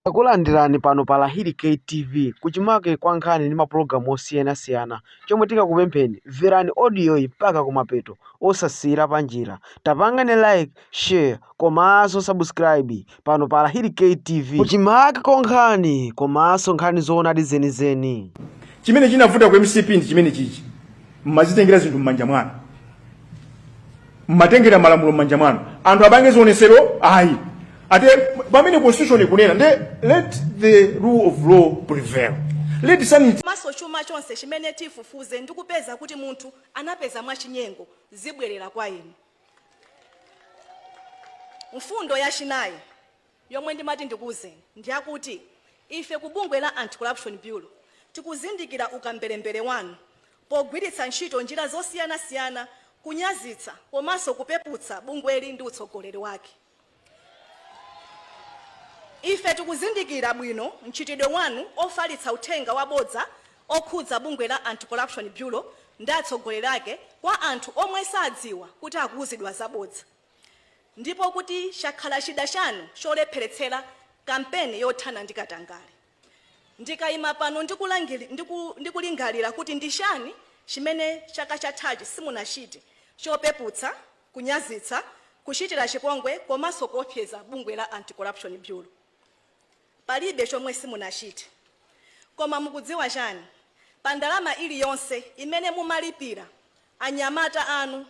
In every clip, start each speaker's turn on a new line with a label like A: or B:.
A: Takulandirani pano pa Lahiri K TV kuchimake kwa nkhani ndi mapulogalamu osiyanasiyana. Chomwe tikakupempheni mverani audio yi mpaka kumapeto osasiyira panjira. Tapangani like, share komanso subscribe pano pa Lahiri K TV kuchimake kwa nkhani komanso nkhani zoonadi zenizeni. chimene chinavuta
B: ku mcp ndi chimene chichi mmazitengera zinthu m'manja mwanu mmatengera malamulo m'manja mwanu anthu apange zionesero ayi ate pamene constitution ikunena nde let the rule of law prevail let sanity maso chuma chonse
C: chimene tifufuze ndi kupeza kuti munthu anapeza mwachinyengo zibwerera kwa inu mfundo yachinayi Yomwe ndimati ndikuuzeni ndiyakuti ife ku bungwe la Anti-Corruption Bureau tikuzindikira ukamberembere wanu pogwiritsa ntchito njira zosiyanasiyana kunyazitsa komanso kupeputsa bungweli ndi utsogoleri wake. Ife tikuzindikira bwino mchitidwe wanu ofalitsa uthenga wabodza okhudza bungwe la Anti-Corruption Bureau ndi atsogoleri ake kwa anthu omwe sadziwa kuti akuuzidwa zabodza. ndipo kuti chakhala chida chanu cholepheretsera kampeni yothana ndi katangale. Ndikaima pano ndikulingalira kuti ndi chani chimene chaka chathachi simunachite chopeputsa, kunyazitsa, kuchitira chipongwe komanso kuopseza bungwe la Anti-Corruption Bureau. Palibe chomwe simunachite. Koma mukudziwa chani? Pa ndalama iliyonse imene mumalipira anyamata anu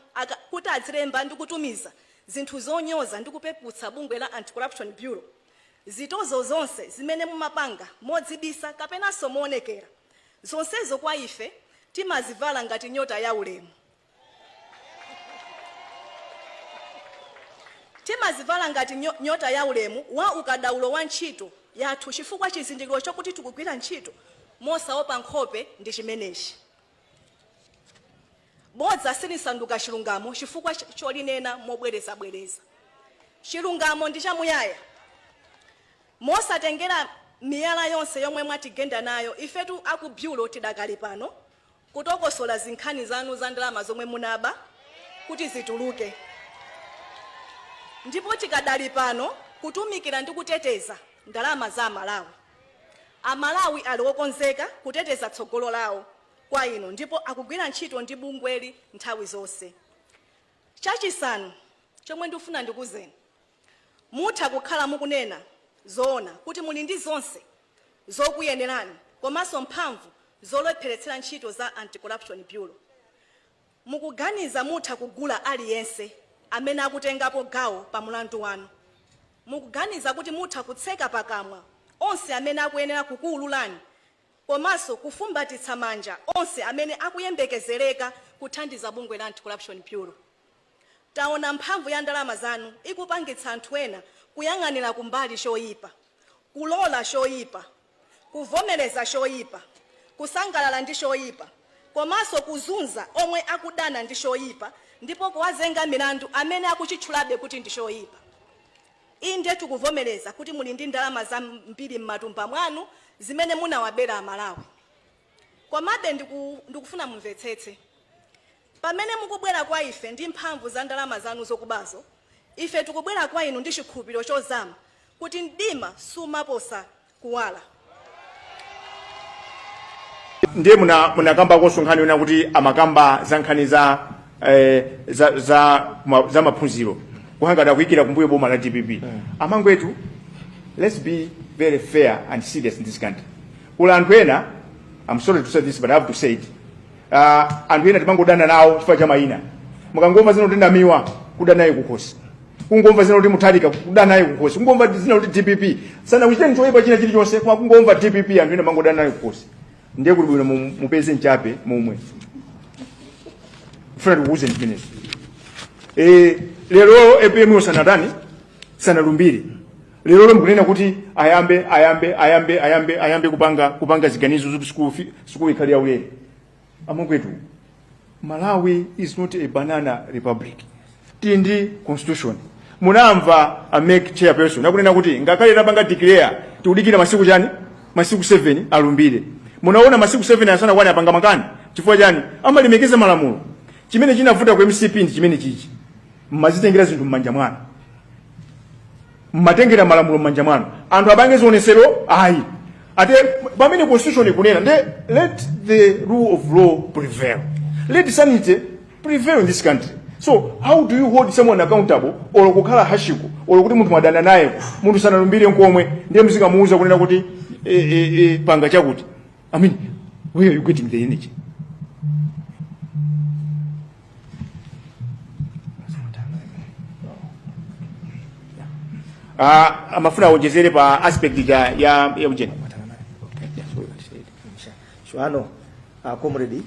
C: kuti adzilemba ndi kutumiza zinthu zonyoza ndi kupeputsa bungwe la Anti-Corruption Bureau, zitozo zonse zimene mumapanga modzibisa kapenanso moonekera, zonsezo kwa ife timazivala ngati nyota ya ulemu. Timazivala ngati nyota ya ulemu wa ukadaulo wa ntchito yathu chifukwa chizindikiro chokuti tikugwira ntchito mosaopa nkhope ndi chimenechi. Bodza silisanduka chilungamo chifukwa cholinena mobwerezabwereza. Chilungamo ndi chamuyaya. Mosatengera miyala yonse yomwe mwatigenda nayo, ifetu a ku Bureau tidakali pano kutokosola zinkhani zanu za ndalama zomwe munaba kuti zituluke ndipo tikadali pano kutumikira ndi kuteteza ndalama za Amalawi. Amalawi ali okonzeka kuteteza tsogolo lawo kwa inu ndipo akugwira ntchito ndi bungweli nthawi zonse. Chachisanu chomwe ndikufuna ndikuuzeni. Mutha kukhala mukunena zoona kuti muli ndi zonse zokuyenerani komanso mphamvu zolepheretsera ntchito za Anti-Corruption Bureau. Mukuganiza mutha kugula aliyense amene akutengapo gawo pa mulandu wanu? Mukuganiza kuti mutha kutseka pakamwa onse amene akuyenera kukuululani komanso kufumbatitsa manja onse amene akuyembekezereka kuthandiza bungwe la Anti-Corruption Bureau? Taona mphamvu ya ndalama zanu ikupangitsa anthu ena kuyang'anira kumbali choipa, kulola choipa, kuvomereza choipa, kusangalala ndi choipa, komanso kuzunza omwe akudana ndi choipa ndipo kuwazenga milandu amene akuchitchulabe kuti ndi choipa. Inde, tikuvomereza kuti muli ndi ndalama zambiri m'matumba mwanu zimene munawabera Amalawi. Komabe, ndikufuna mumvetsetse. Pamene mukubwera kwa ife ndi mphamvu za ndalama zanu zokubazo, ife tikubwera kwa inu ndi chikhulupiriro chozama kuti mdima sumaposa kuwala.
B: ndiye muna munakambakonso nkhani yonena kuti amakamba za nkhani za eh, za za, ma, za maphunziro kuhangata kuyikira kumbuyo boma la dpp amangwetu let's be very fair and serious in this country kuli anthu ena i'm sorry to say this but i have to say it Ah, anthu ena timangodana nawo chifukwa cha mayina mukangomva dzina kuti namiwa kuda naye kukhosi kungomva dzina kuti mutharika kuda naye kukhosi kungomva dzina kuti dpp sanakuchiteni choyipa china chilichonse koma kungomva dpp anthu ena mumangodana naye kukhosi ndiye kuti bwino mu- mupeze mchape momwe mufuna tikuuzeni zimenezo Eh, lero apm sanatani sanalumbire lero mkunena kuti ayambe ayambe ayambe ayambe ayambe kupanga kupanga ziganizo zoti school fi- school ikhale yaulere amangwetu malawi is not a banana republic tili ndi constitution munamva a mec chairperson akunena kuti ngakhale tapanga declare tikudikira masiku chani masiku 7 alumbire munaona masiku 7 asanakwane apanga makani chifukwa chani amalemekeza malamulo chimene chinavuta ku mcp ndi chimenechichi mmazitengera zinthu m'manja mwanu mmatengera malamulo m'manja mwanu anthu apange zionetsero ayi ati pamene constitution ikunena nde let the rule of law prevail let sanity prevail in this country so how do you hold someone accountable olo kukhala harsh-ko olo kuti munthu mwadana naye munthu sanalumbire nkomwe ndiye muzikamuuza kunena kuti e, e, e, panga chakuti i mean where are you getting the energy Ah, amafuna awonjezere pa aspect ya ya ya ujeni
D: Shawa, uh, comrade,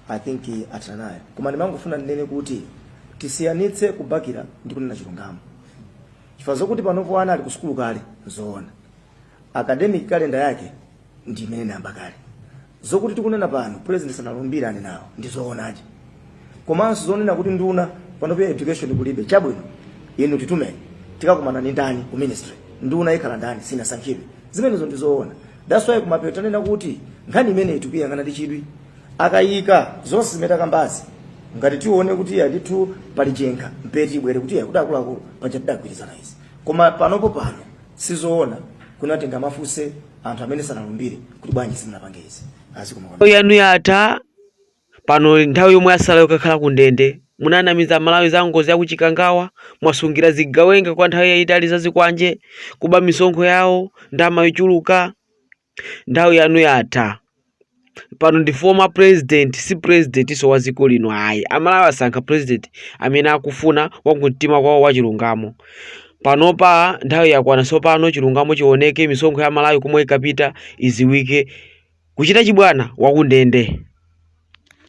D: I think eh, athana nayo. Koma ndimangofuna ndinene kuti tisiyanitse kubakira ndi kunena chilungamo. Chifukwa zokuti panopo ana ali ku sukulu kale, nzoona. Academic calendar yake ndi imene inayamba kale zokuti tikunena pano president sanalumbira anenawo ndi zoonanso komanso zonena kuti nduna pano pa education kulibe chabwino inu titume tikakumana ni ndani ku ministry nduna ikhala ndani sinasankhidwe zimenezo ndi zoona that's why kumapetoko tanena kuti nkhani imene tikuyang'ana ndi chidwi n'kuyika zonse zimene takambazi ngati tione kuti ya ndithu pali chenga mpaka ibwere kuti ya kuti akuluakulu paja tidagwirizana izi koma panopo pano sizoona kunatenga kumafunsa anthu amene sanalumbire kuti bwanji simunapange izi azikoma yanu yatha
A: pano nthawi yomwe yatsala yokakhala ku ndende munanamiza amalawi za ngozi ya kuchikangawa mwasungira zigawenga kwa nthawi yayitali za zikwanje kuba misonkho yawo ndama yochuluka nthawi yanu yatha pano ndi former president si presidentinso wa dziko lino ayi amalawi asankha president amene akufuna wakumtima kwawo wachilungamo panopa nthawi yakwana tsopano chilungamo chioneke misonkho ya amalawi komwe inkapita idziwike kuchita chibwana wakundende